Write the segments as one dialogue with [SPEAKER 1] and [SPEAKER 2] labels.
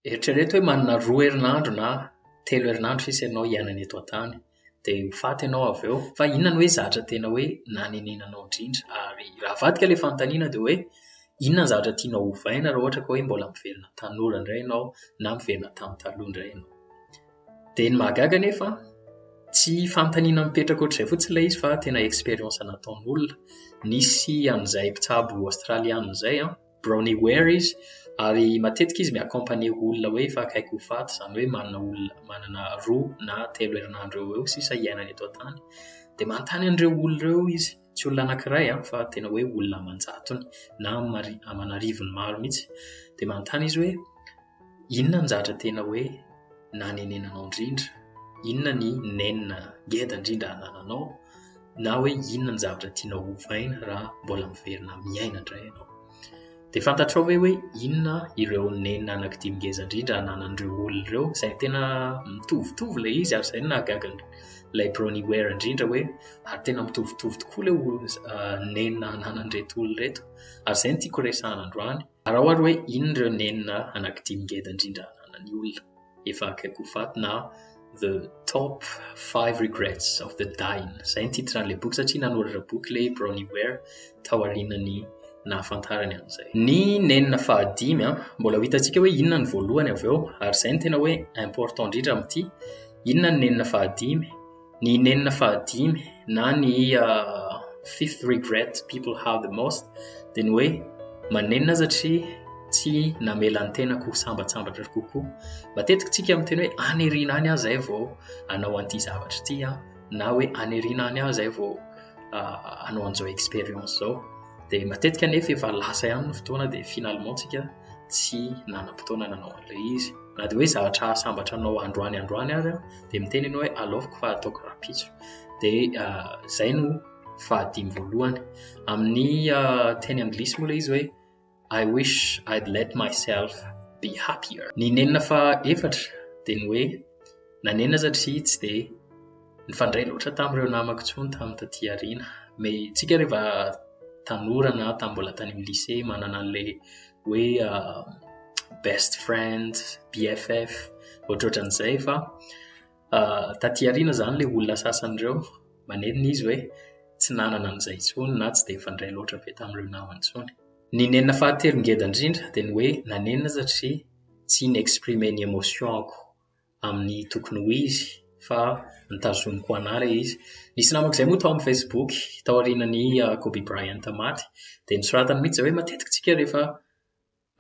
[SPEAKER 1] Eritrereto hoe manana roa herinandro na telo herinandro sisa ianao hiainana eto an-tany, dia ho faty ianao avy eo. Fa inona no hoe zavatra tena hoe nanenenanao indrindra? Ary raha avadika ilay fanontaniana dia hoe inona ny zavatra tianao hovaina raha ohatra ka hoe mbola miverina tanora indray ianao na miverina tamin'ny taloha indray ianao? Dia ny mahagaga anefa, tsy fanontaniana mipetraka ohatr'izay fotsiny ilay izy fa tena expérience nataon'olona. Nisy an'izay mpitsabo Aostraliana izay an, Brownie Ware izy ary matetika izy mi-accompagner olona hoe efa akaiky ho faty, izany hoe manana olona manana roa na telo herinandro eo ho eo sisa hiainany eto an-tany dia manontany an'ireo olona ireo izy, tsy olona anankiray an, fa tena hoe olona aman-jatony na aman'arivony maro mihitsy dia manontany izy hoe. Inona ny zatra tena hoe nanenenanao indrindra? Inona ny nenina ngeda indrindra anananao? Na hoe inona ny zavatra tianao hovaina raha mbola miverina miaina indray ianao? Dia fantatrao ve hoe inona ireo nenina anankidimy ngeza indrindra ananan'ireo olona ireo? Izay tena mitovitovy ilay izy ary izay no nahagaga ilay Bronnie Ware indrindra hoe ary tena mitovitovy tokoa ilay nenina ananan'ireto olona ireto. Ary izay no tiako resahana androany. Araho ary hoe inona ireo nenina anankidimy ngeda indrindra ananan'ny olona efa akaiky ho faty na The Top 5 Regrets of the Dying. Izay ny titran'ilay boky satria nanoratra boky ilay Bronnie Ware tao aorianan'ny nahafantarany an'izay. Ny nenina fahadimy an, mbola ho hitantsika hoe inona ny voalohany avy eo ary izay no tena hoe important indrindra amin'ity, inona ny nenina fahadimy, Ny nenina fahadimy na ny fifth regret people have the most dia ny hoe manenina aza tri tsy namela ny tenako ho sambatsambatra kokoa. Matetiky tsika miteny hoe aniriana any aho zay vao anao an'ity zavatra ity an, na hoe aniriana any aho zay vao anao an'izao experience zao. Dia matetika nefa efa lasa ihany ny fotoana dia finalement tsika tsy nanam-potoana nanao an'ilay izy. Na dia hoe zavatra hahasambatra anao androany androany ary an. dia miteny ianao hoe aleofiko fa ataoko rahampitso dia izay no fahadimy voalohany amin'ny teny anglisy moa ilay izy hoe I wish I'd let myself be happier ny nenina fa efatra dia ny hoe nanenina satria tsy dia nifandray loatra tamin'ireo namako intsony tamin'ny taty aoriana mais tsika rehefa tanora na tamin'ny mbola tany amin'ny lycée manana an'ilay hoe uh, best friend bff ohatrohatran'izay fa uh, taty ariana zany le olona sasany ireo manenina izy hoe tsy nanana an'izay tsony na tsy de fandray loatra be tamin'ireo namany tsony ny nenina fahatelo ngeda indrindra de ny hoe nanenina satria tsy inexprime ny émotion ako amin'ny tokony ho izy fa nitazoniko anah ilay izy. Nisy namako izay moa tao amin'ny Facebook taorianan'i ah, Kobe Bryant maty dia nisoratany mihitsy izay hoe matetika tsika rehefa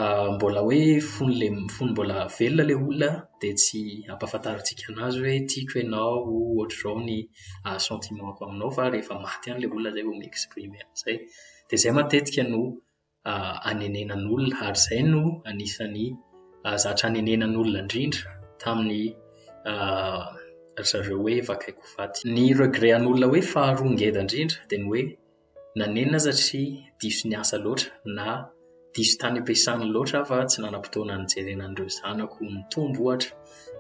[SPEAKER 1] ah, mbola hoe fony le fony mbola velona ilay olona dia tsy ampahafantarintsika anazy hoe tiako ianao ohatr'izao ny ah, sentiment-ko aminao fa rehefa maty ihany ilay olona izay vao mi-exprimer an'izay. Dia izay matetika no hanenenan'olona ary izay no anisan'ny zatra hanenenan'olona indrindra tamin'ny ry zareo hoe vakaiko faty. Ny regret an'olona hoe faharoa ngeda indrindra dia ny hoe nanenina aho satria diso ny asa loatra na diso tany am-piasana loatra aho fa tsy nanam-potoana nijerena an'ireo zanako nitombo ohatra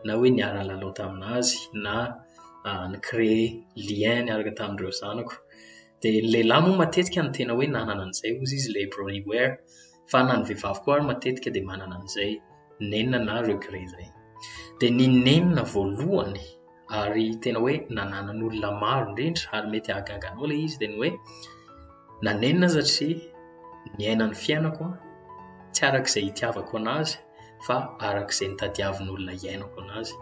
[SPEAKER 1] na hoe niara-nilalao tamin'azy na ni-créer lien niaraka tamin'ireo zanako. dia ny lehilahy moa matetika no tena hoe nanana an'izay hozy izy ilay brawny wear fa na ny vehivavy koa ary matetika dia manana an'izay nenina na regret izay dia ny nenina voalohany ary tena hoe nananan'olona maro indrindra ary mety hahagaga anao ilay izy dia ny hoe nanenina satria ny aina ny fiainako an tsy arak'izay hitiavako an'azy fa arak'izay nitadiavin'olona iainako an'azy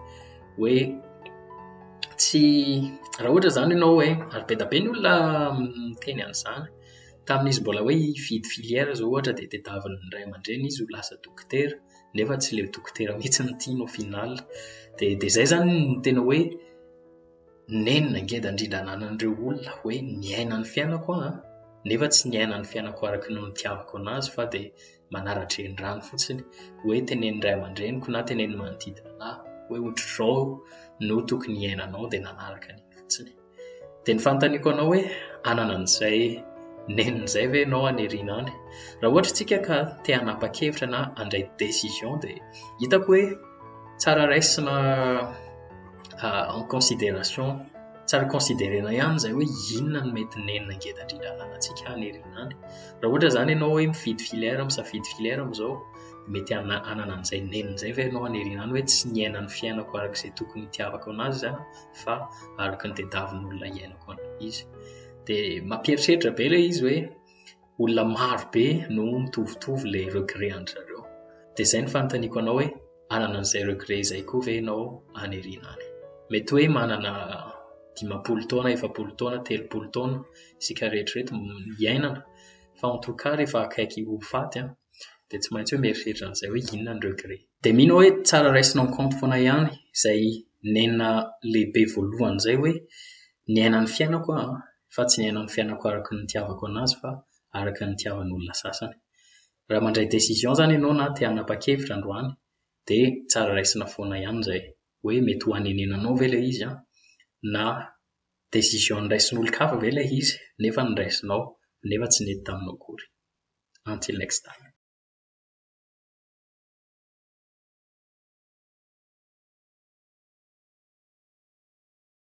[SPEAKER 1] hoe tsy raha ohatra izany ianao hoe ary be dia be ny olona miteny an'izany tamin'izy mbola hoe hividy filière izao ohatra dia tadiavin'ny ray aman-dreny izy ho lasa dokotera nefa tsy ilay dokotera mihitsy no tiany au final dia dia izay izany no tena hoe nenina ngeda indrindra ananan'ireo olona hoe niaina ny fiainako aho an nefa tsy niaina ny fiainako araka ny nitiavako anazy fa dia manara-drenirano fotsiny hoe tenenin'ny ray aman-dreniko na tenenin'ny manodidina anahy hoe ohatr'izao no tokony hiainanao dia nanaraka an'iny fotsiny. Dia ny fanontaniako anao hoe anana an'izay nenina izay ve ianao aniriana any? Raha ohatra isika ka te hanapa-kevitra na handray décision dia hitako hoe tsara raisina en considération Tsy ary considerena ihany izay hoe inona no mety nenina ngeda indrindra ananantsika any herinandro. Raha ohatra izany ianao hoe mifidy filière, misafidy filière amin'izao, mety hanana an'izay nenina izay ve ianao any herinandro hoe tsy niaina ny fiainako araka izay tokony hitiavako anazy izany fa araka ny tediavin'olona hiainako an'izy. Dia mampieritreritra be ilay izy hoe. olona maro be no mitovitovy ilay regret an-dry zareo. Dia izay ny fanontaniako anao hoe hanana an'izay regret izay koa ve ianao any aoriana any? Mety hoe manana dimampolo taona, efapolo taona, telopolo taona isika rehetra ireto hiainana fa en tout cas rehefa akaiky ho faty an, dia tsy maintsy hoe mieritreritra an'izay hoe inona ny regret. Dia mino aho hoe tsara raisina en compte foana ihany izay nenina lehibe voalohany izay hoe Niaina ny fiainako aho an, fa tsy niaina ny fiainako araka ny nitiavako anazy fa araka ny nitiavan olona sasany. Raha mandray décision zany enao na te hanapa-kevitra androany de tsara raisina foana ihany zay hoe mety ho hanenenanao ve ilay izy an, na décision noraisin'olon-kafa ve ilay izy nefa noraisinao nefa tsy nety taminao akory. Until next time.